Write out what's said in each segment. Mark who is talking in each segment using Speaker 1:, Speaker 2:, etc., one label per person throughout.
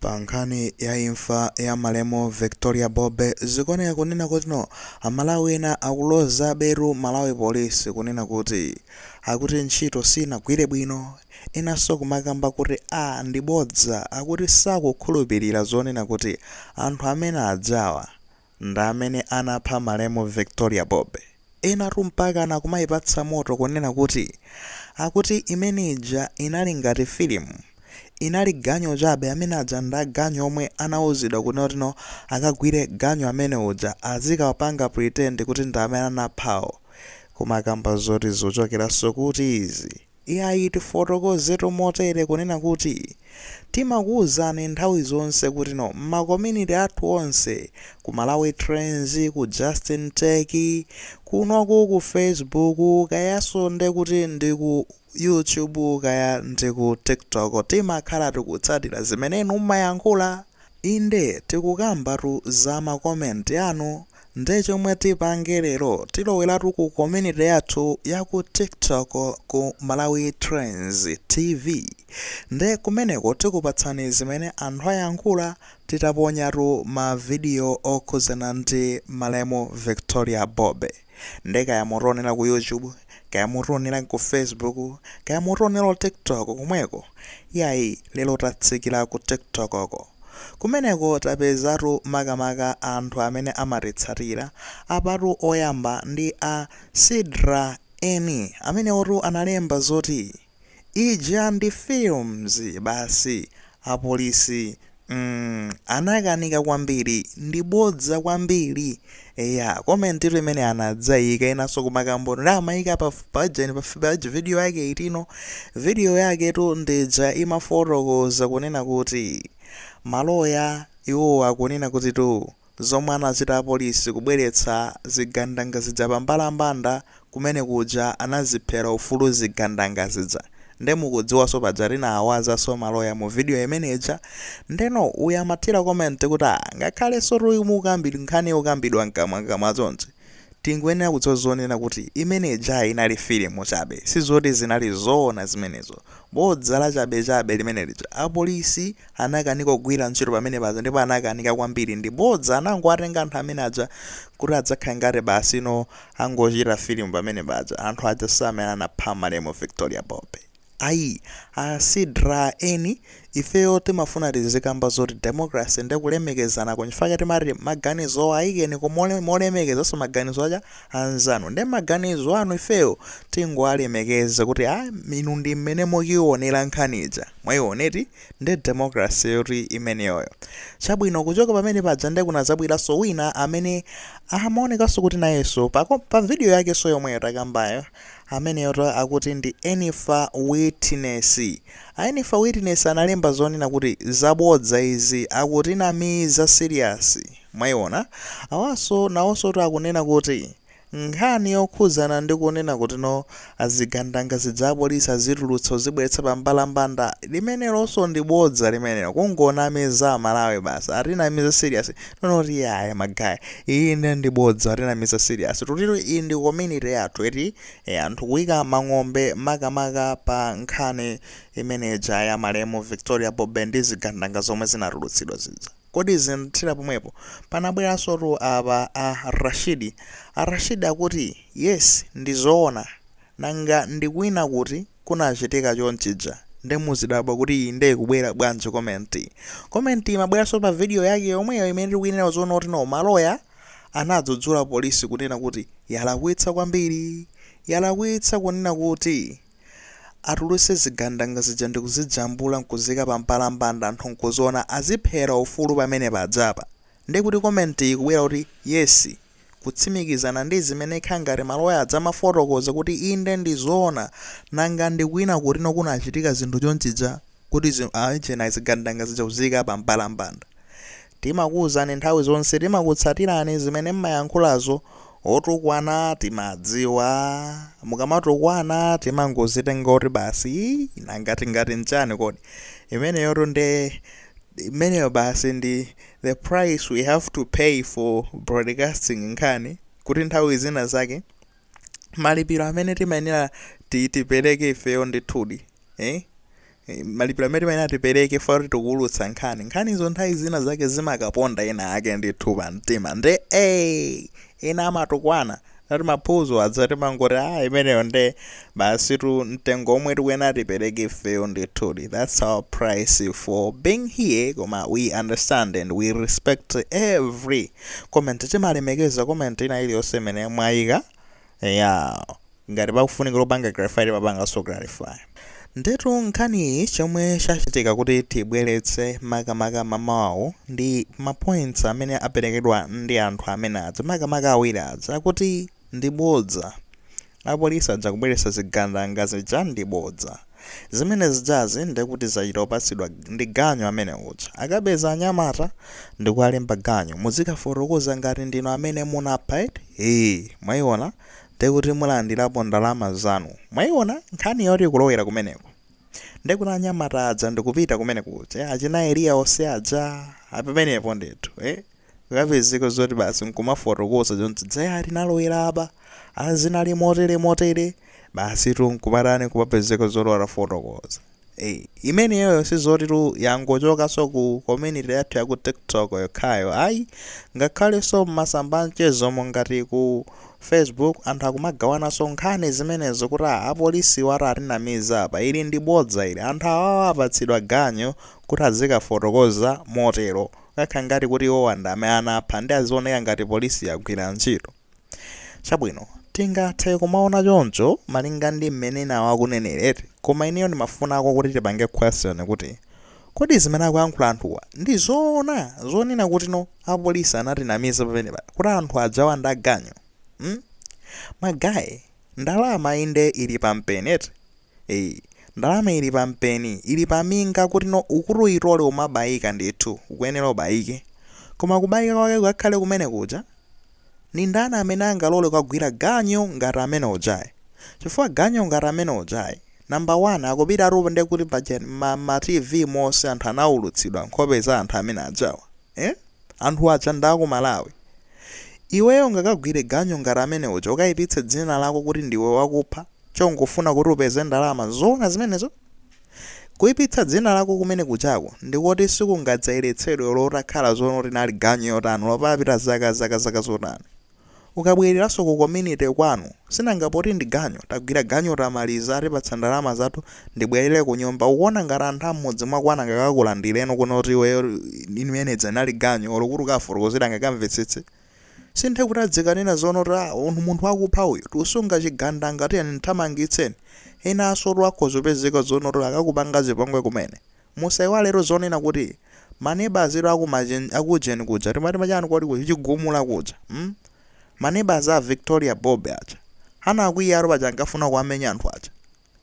Speaker 1: Pa nkhani ya imfa ya malemu Victoria Bobe, zikuoneka kunena kutino Amalawi ena akulozabetu a Malawi Police kunena kuti akuti ntchito sinagwire bwino, enanso kumakamba kuti a ndi bodza akuti sakukhulupilira zonena kuti anthu amene ajawa. ndamene anapha malemu Victoria Bobe enatu mpakana akumaipatsa moto kunena kuti akuti imene ija inali ngati filimu inali ganyu chabe amene aja ndaganyu omwe anauzidwa kunena kutino akagwire ganyu amene uja azikapanga pretend kuti ndamene anaphawo kumakamba zoti zochokeraso kuti izi Iyayi, tifotokozetu motere kunena kuti, timakuuzani nthawi zonse kutino mma community athu onse, ku Malawi Trends, ku Justin Tech, kunoku ku Facebook, kayaso nde kuti ndi ku YouTube kaya ndi ku TikTok, timakhala tikutsatira zimene inu mmayankhula. Inde tikukambatu za ma comment anu nde chomwe tipange lero tilowelatu ku community yathu ya ku tiktok ku Malawi Trends TV nde kumeneko tikupatsani zimene anthu ayankhula titaponyatu ma video okhudzana ndi malemu Victoria Bobe. Nde kaya mutionela ku YouTube, kaya mutionela ku Facebook, kaya mutionela ku TikTok komweko, iyayi lelo tatsikila ku TikTok ko. Kumeneko tapezatu makamaka anthu amene amatitsatila, apatu oyamba ndi a Sidra Eni, amenewotu analemba zoti. Ija ndi films basi apolisi mm anakanika kwambiri ndi bodza kwambiri eya comment tu imene anadzayika inanso kumakambano nde amayika pa pajani pa page video yake itino video yake tu ndija imafotokoza kunena kuti maloya iwo akunena kuti tu Zomwe anachita apolisi kubweretsa zigandanga zija pa mbalambanda kumene kuja anaziphera ufulu zigandanga zija nde mukudziwaso paja tinawawazaso maloya mu video imene ija ndeno uyu amathira comment kuti aah ngakhalesotu mukukambira nkhani yokambidwa mkamwa mkamwa chonchi tingoyenera kudziwa zonena kuti imene ijayi inali filimu chabe sizoti zinali zoona zimenezo bodza lachabechabe limene lija apolisi anakanika kugwira ntchito pamene paja ndipo anakanika kwambiri ndi bodza anangowatenga anthu amene aja kuti adzakhale ngati basi you know angochita filimu pamene paja anthu aja si amene anapha malemu Victoria Bobe ayi a Sidra Eni ifeyo timafuna tizikamba zoti democracy ndi kulemekezana nchifukwa chake timati maganizo ayikeni ku mole- molemekezanso maganizo aja anzanu ndi maganizo anu ifeyo tingowalemekeza kuti a inu ndi mmene mukuiwonera nkhani ija mwayioneti Nde democracy yoti imeneyoyo. Chabwino kuchoka pamene paja nde kunazabweraso wina amene amaonekaso kuti nayeso pa video yakeso yomweyo takambayo ameneyotu akuti ndi Enifa Witness. A Enifa Witness analemba zonena kuti zabodza izi akutinamiza serious mwaiona. Awaso nawosotu akunena kuti Nkhani yokhudzana ndi kunena kuti no azigandanga zija apolisi azitulutsa kuzibweretsa pa mbalambanda limenelonso ndi bodza limenelo kungonamiza amalawi basi atinamiza serious noti yaya magaya iyi nde ndi bodza atinamiza serious tutiro iyi ndi community yathu eti e, anthu kuika mang'ombe makamaka pa nkhani imene ija ya malemu Victoria Bobe ndi zigandanga zomwe zinatulutsidwa zija. Kodi zinathera pomwepo? Panabweransotu apa a Rashid. A Rashid akuti yes ndi zoona. Nanga ndi kwina kuti kunachitika chonchija? Nde muzidabwa kuti iyi nde kubwera bwanji comment. Comment imabweranso pa video yake yomweyo imene tikuinenayo zonena kuti no maloya anadzudzula police kunena kuti yalakwitsa kwambiri. Yalakwitsa kunena kuti. Atuluse zigandanga zija ndikuzijambula nkuzika pa mbalambanda anthu nkuziona aziphera ufulu pamene paja apa nde kuti comment iyi ikubwera kuti yes kutsimikizana ndizimene kukhala ngati maloya aja amafotokoza kuti inde ndizoona nanga ndikwina kutino kunachitika zinthu chonchija kuti achina zigandanga zija kuziika pa mbalambanda Timakuuzani nthawi zonse timakutsatirani zimene mmayankhulazo otukwana timadziwa mukamatukwana timangozitenga kuti basi ii nanga tingati chani kodi imeneyotu nde imeneyo basi ndi the price we have to pay for broadcasting nkhani kuti nthawi zina zake malipiro amene timayenera ti- tipereke ifeyo ndithudi eh? Eh, malipiro amene timayenera tipereke ifeyo kuti tikuwulutsa nkhani nkhanizo nthawi zina zake zimakaponda ena ake ndithu pa mtima nde eh, ena amatukwana ati maphunzo aja timangoti ah imeneyo nde basitu mtengo omwe tikuyenera tipereke ifeyo ndithudi that's our price for being here koma we understand and we respect every comment timalemekeza comment ina iliyonse imene mwayika yeah Ngati pakufunikira kupanga clarify timapanganso clarify. Ndetu nkhaniyi chomwe chachitika kuti tibweretse makamaka mamawu ndi ma points amene aperekedwa ndi anthu amene aja makamaka awiri aja akuti ndi bodza. Apolisi aja kubweretsa zigandanga zija ndi bodza. Zimene zijazi ndekuti zachita kupatsidwa ndi ganyu amene uja. Akapeza anyamata ndikuwalemba ganyu muzikafotokoza ngati ndinu amene munapha eti? Eeh mwaiona? Nde kuti mulandirapo ndalama zanu mwaiona nkhani yoti kulowera kumeneko nde kuti anyamata aja ndikupita kumene kuja achina Eliya onse aja apamenepo ndithu eh kukapezeka zoti basi nkumafotokoza zonse zija tinalowera apa ah zinali motere motere basitu nkumatani kumapezeka zoti atafotokoza Eyi imeneyoyo sizotitu yangochokanso ku community yathu ya ku tiktok yokhayo ayi ngakhalenso m'masamba anchezo monga ngati ku facebook anthu akumagawananso nkhani zimenezo kuti ah apolisiwa atinamiza apa ili ndi bodza ili anthu awawa apatsidwa ganyu kuti azikafotokoza motero kukakhala ngati kuti iwowa ndi amene anapha nde azioneka ngati polisi yagwira ntchito Chabwino, tingathe kumaona choncho malinga ndi mmene enawo akunenera eti, koma ineyo ndimafunako kuti tipange question kuti, Kodi zimene akuyankhula anthuwa ndi zoona zonena kutino apolisi anatinamiza pamenepa kuti anthu ajawa ndi aganyu? mm? Magaye, ndalama inde ili pampeni eti, Eee ndalama ili pa mpeni ili pa minga kuti no ukuti uyitole umabayika ndithu ukuyenera ubayike koma kubayika kwake kukakhale kumene kuja ndi ndani amene angalole kugwira ganyu ngati amene ujayi chifukwa ganyu ngati amene ujayi namba wani akupita atapo ndiye kuti paja ma, ma tv monse anthu anawulutsidwa nkhope za anthu amene ajawa eh? anthu aja ndi aku malawi iweyo ungakagwire ganyu ngati amene uja ukayipitse dzina lako kuti ndiwe wakupha chongofuna kuti upeze ndalama. Nzoona zimenezo? Kuipitsa dzina lako kumene kujako ndi koti sikungadzayeretsedwe olo utakhala zoti linali ganyu yotani, olo papita zaka, zaka, zaka zotani. Ukabwereranso ku community kwanu, sinanga poti ndi ganyu, tagwira ganyu tamaliza, atipatsa ndalama zathu, ndibwerere kunyumba. Ukuona ngati anthu a m'mudzi mwako angakakulandirenso kunoti iweyo, imeneija inali ganyu, olo kuti ukawafotokozere angakamvetsetse? Si nde kuti adzikanena zonena kuti ah, uyu munthu wakupha uyu, tikusunga chigandanga tiyeni mthamangitseni. Enasotu akhoza kupezeka zonena kuti akakupanga zipongwe kumene. Musaiwaletu zonena kuti maneba azitu akumajen akujeni kuja timati machani kodi kuja chigumula kuja mm? maneba za Victoria Bob aja anakwiyatu paja ankafuna kuwamenya anthu aja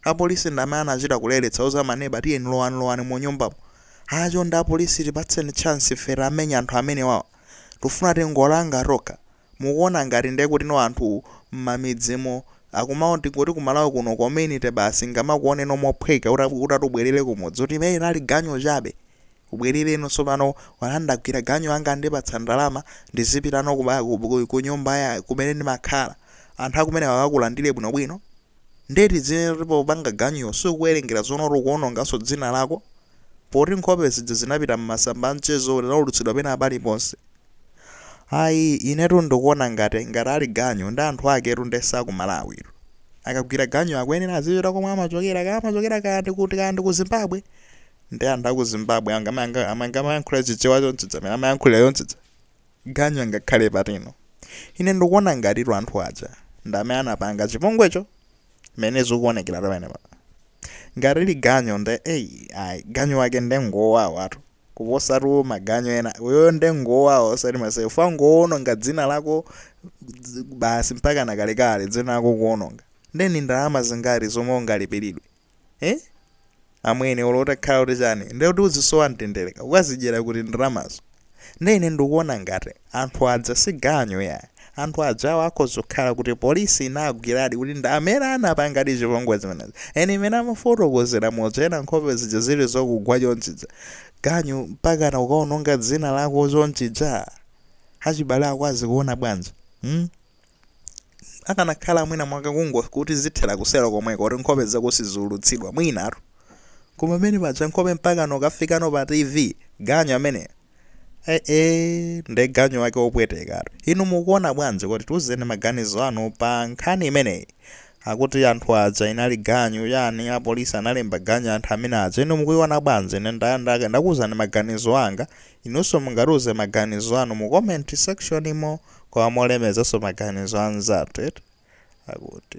Speaker 1: Apolisi ndamene anachita kuletsa kuuza maneba tiyeni lowani lowani munyumbamu haa chonde apolisi tipatseni chance ife tiwamenye anthu amenewawa tufuna tingowalanga tokha mukuona ngati ndekutino anthu mmamidzimo akwawo tingoti kumalawi kuno community basi ingamakuoneno mophweka uta utati ubwerere kumudzi kuti imene inali ganyu chabe ubwerereno sopano haa ndagwira ganyu yanga andipatsa ndalama ndizipitano kuba kunyumba kumene ndimakhala anthu akumeneko akakulandire bwino bwino Ndiye tidzinena kuti popanga ganyuwo sukuwerengera zonena kuti ukuwononganso dzina lako? Poti nkhope zija zinapita m'masamba a mchezo zinaulutsidwa pena paliponse. Ayi, inetu ndikuona ngati, ngati ali ganyu, nde anthu aketu ndiye si a ku Malawitu. Akagwira ganyu akuyenera azipita komwe amachokera, kaya amachokera kaya ndi kuti, kaya ndi ku Zimbabwe. Ndiye anthu a ku Zimbabwe angamayankhule Chichewa chonchija, amene amayankhulira chonchija? Ganyu angakhale patino? Ine ndikuona ngatitu anthu aja ndi amene anapanga chipongwecho mmene zikuonekera pamenepa. Ngati ali ganyu nde ei ayi ganyu wake nde ngowawatu kuposatu maganyu ena. Uyuyo nde ngowawa osati masewera chifukwa ngowononga dzina lako basi mpakana kalekale dzina lako ukuwononga. Nde ndi ndalama zingati zomwe ungalipiridwe? eh? amene olo utakhala kuti chani nde kuti uzisowa mtenderetu ukazidyera kuti ndalamazo nde ine ndikuona ngati anthu aja si ganyu ayi anthu ajawo akhoza kukhala kuti polisi inagwiradi kuti ndi amene anapangadi chipongwe zimenezi ee mmene amafotokozera muja ena nkhope zija zili zakugwa chonchija ganyu mpakana kukaononga dzina lako chonchija achibale ako azikuona bwanji hmm? akanakhala mwina amakauza kuti zithera kuselo komweko kuti nkhope zako sizulutsidwa mwinatu koma pamene paja nkhope mpakano kafikano pa tv ganyu ameneyo eh, nde ganyu wake wopwetekatu inu mukuona bwanji kuti tiuzeni maganizo anu pa nkhani imeneyi akuti anthu aja inali ganyu eti apolisi analemba ganyu anthu amene aja inu mukuiona bwanji ine ndakuuzani maganizo anga inunso mungatiuze maganizo anu mu comment section imo koma molemezanso maganizo a anzathu eti, akuti.